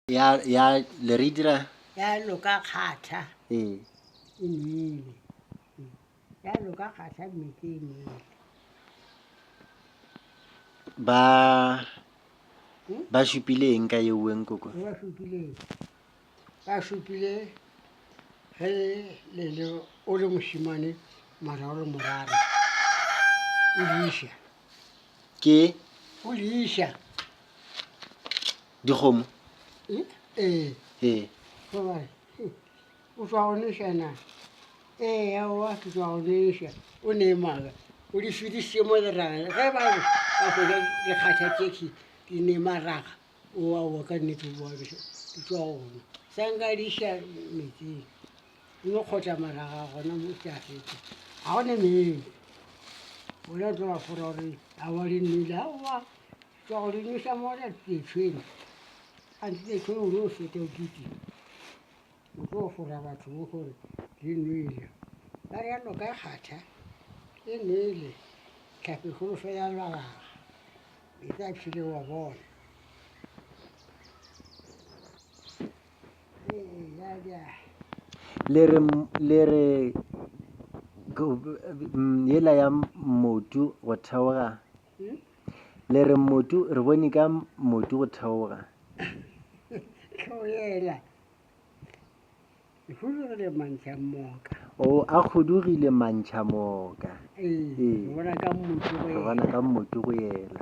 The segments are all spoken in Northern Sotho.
Ya, ya, le re dira. Ya loka kgatha. Ee. E nele. Ya loka kgatha metse e nele. Ba, hmm? ba šupile eng ka yeuweng koko? Ba šupile, ba šupile ge le le o le mošimane mara o le morara o diša ke go di iša dikgomo e ee ee ba ba re "Hei, o tswa go neša na ee aowa ke tswa go neša o ne maaka o di fedisitse mo leraga ge ba re ba kgona dikgatha tšexe di ne maraga o aowa ka nnete o boabeša di tswa gona sa nka di iša metsing o no kgotla maraga gona mo ke a fetsa ga gone meng ona tlo ba fora gore a wa di nnile aowa tsa gore nisa mona tetshweng a ntse tetshweng o no feta o kete o tlo fora batho mo gore di nnile ba re yalo ka kgatha e nele tlhape kgolo fe ya lwalaga e tla phile wa bona Le re, le re yela ya mmotu go theoga. Le re mmotu, re bone ka mmotu go theoga. Go yela. Hudugile mantšha moka. O a hudugile mantšha moka. Ee, bona ka mmotu go yela. Bona ka mmotu go yela.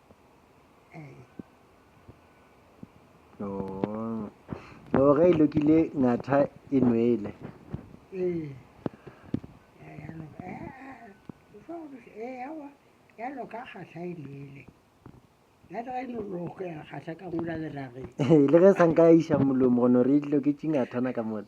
no ge e lokile ngatha e nwele ya loka kgahla e nwele le ge sanka ya iša molomo gono re dilo ke tšingathana ka mone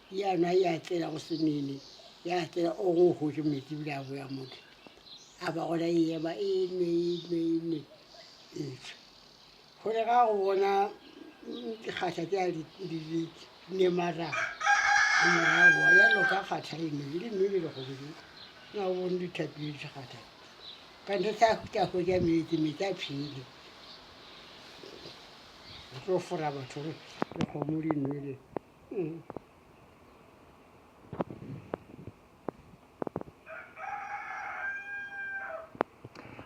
Yana ya tsela go semele ya tsela o go hojo metsi bile a boya motho a ba gona e ema e nwe e nwe e nwe e tswa gore ga go bona dikgatha tse a di di di ne mara morago ya loka kgatha e nwe le nwe le go bile na o bone dithapi di kgatha ka ntse tsa tsa go ja metsi metsi a phele go fora batho le go mo di nwele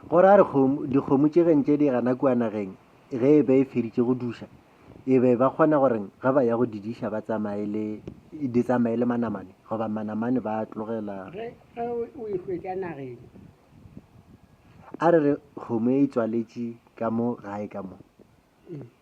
Go ra gore dikgomo tše gentše di gana kua nageng ge e be e feditše go duša e be ba kgona gore ga ba ya go didiša ba tsamaye le di tsamaye le manamane goba manamane ba tlogela a re re kgomo e tswaletše ka mo gae ka mo mm.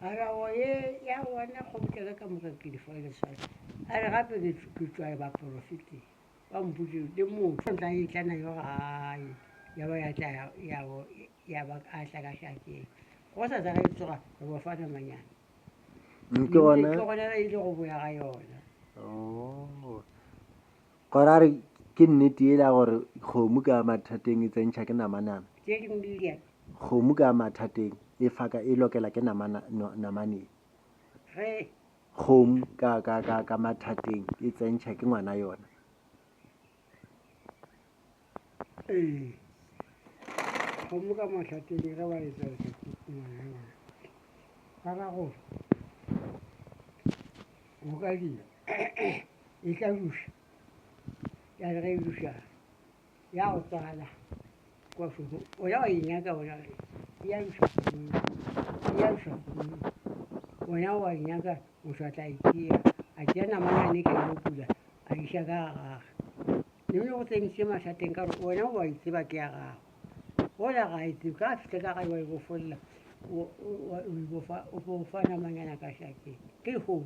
Arabo ye ya bona kgobokelo e ka moka ke lefo le leswai. A re gape ke tšwa baporofeteng ba mpotše le motho o tla etla na yo gae ya ba ya tla ya bo ya ba a tla ka šakeng go sa tsa re tsoga re bo fana manyana ke gona ke gona ba ile go boya ga yona oh Gore a re ke nnete ele ya gore kgomo ka mathateng e tsentšha ke namanana. Tše dingwe di lia. Kgomo ka mathateng e faka e lokela ke namana, no, namaneng. Re. Kgomo ka, ka, ka, ka mathateng e tsentšha ke ngwana yona. ee kgomo ka mahlateng ge ba etsa etsa ba ra gore go ka dira e tla duša ya re ge e duša ya go tswala kwa foto o ya wa e nyaka ona ya duša ya duša ona wa e nyaka motho a tla e tšea a tšea namana ne ka yo pula a iša ka gage Neng le go tseniše mathateng ka gore wena o a itseba ke ya gago. Gola ga a itsebe, ka fihle ka gae wa ibofolla, o bofa namanyana ka šakeng. Ke hoo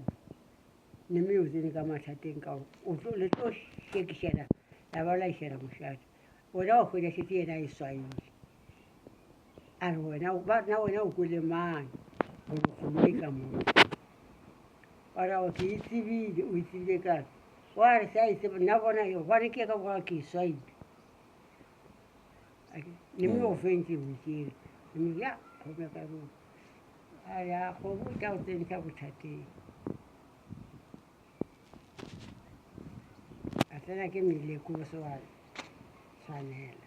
neme yo tsene ka mathateng ka gore le tlo shekišana la ba la išana mošate. Wena wa hwetša šetse yena a e swaile. a re wena ba na wena o kwele mang gore kgomo e ka moo wa ra gore ke e tsebile o e tsebile kare wa re sa e tseba nna bona e gwane ke ka boga ke e swaile le me o fentse o tsere mme ya kgome ka rona a ya kgomo tla o tsentsha bothateng a tsena ke meleko o se wa tshwanela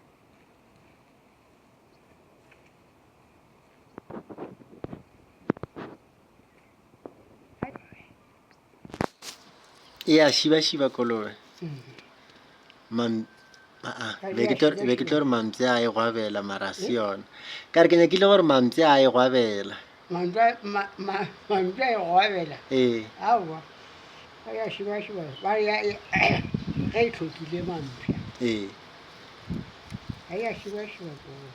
e a šibašiba kolobe Mam- aa, Ga be e a ke tlo re- be ke tlo re mampe a e gwabela mara a se yona ka re ke nyakile gore mampe a e gwabela Mantšu a, ma, ma, mantšu a e go abela. Ee. Aowa. Ba ya šibašiba. Ba re ya, ge e tlhokile mampša. Ee. Ga ya šibašiba koo.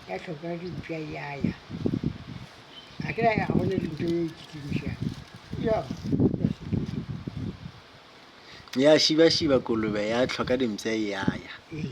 Ya tlhoka dimpša ya ya. A ke ya ga go ne dintho ye e kitimišang. Yo, ya sepedi. Ya šibašiba kolobe ya tlhoka dimpša ya ya. Ee.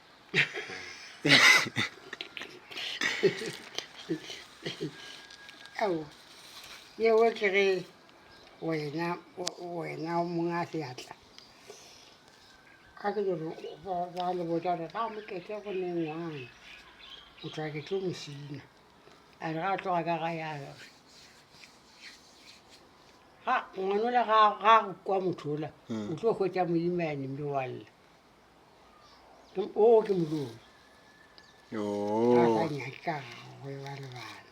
ao yeo ke ge wena wena monga seatla ka ke gore ba le botsa gore ba mokete go ne ngwana o tla ke tlo mosina a re ga a tloga ka ga ya gore ga ngwanola ga go kwa motho ola mm. o tlo hwetsa moimane mme wa lla oo ke modimo a sa nyake ka gagwe ba lebala